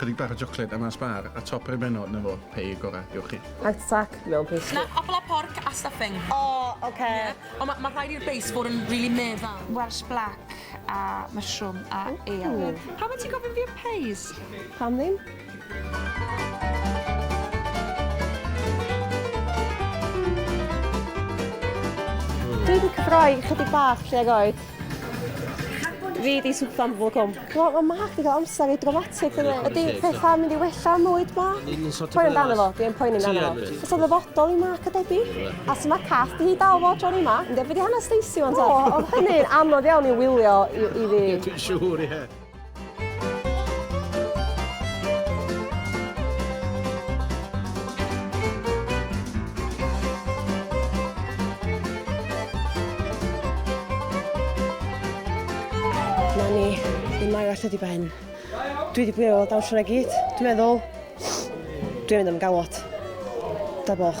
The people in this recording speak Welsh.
Chydig bach o jocled a mas bar a top yr ymenod na fo, pay y gora, diolch chi. Heart attack mewn pastry. Na, apple a pork a stuffing. O, ok. Ie. Ond ma' rhaid i'r base fod yn rili meddal. Welsh black a mushroom a ale. Pam wyt ti'n gofyn fi am pays? Pam ddim? Dwi 'di cyffroi chydig bach tuag oed. Fi di swpfa am bob cwm. Wel ma' Mark di ga'l amser i dramatic yndi? Ydi petha yn mynd i wella am fwyd Mark? Yn yn sort of... Poeni amdano fo, dwi yn poeni amdano fo. Ti yn wyt. Fysa'n ddyfodol i Mark a Debbie. A su' ma' cath di hi dal fo tro yma? Yndi a be' di hanes Stacey ŵan ta? O o'dd hynny'n anodd iawn i wylio i i fi. Dwi'n siŵr ie. Na ni, ddim mai allan di ben. Dwi wedi bwyd o dawnsio na gyd. Dwi'n meddwl, dwi'n mynd am galwad. Da boch.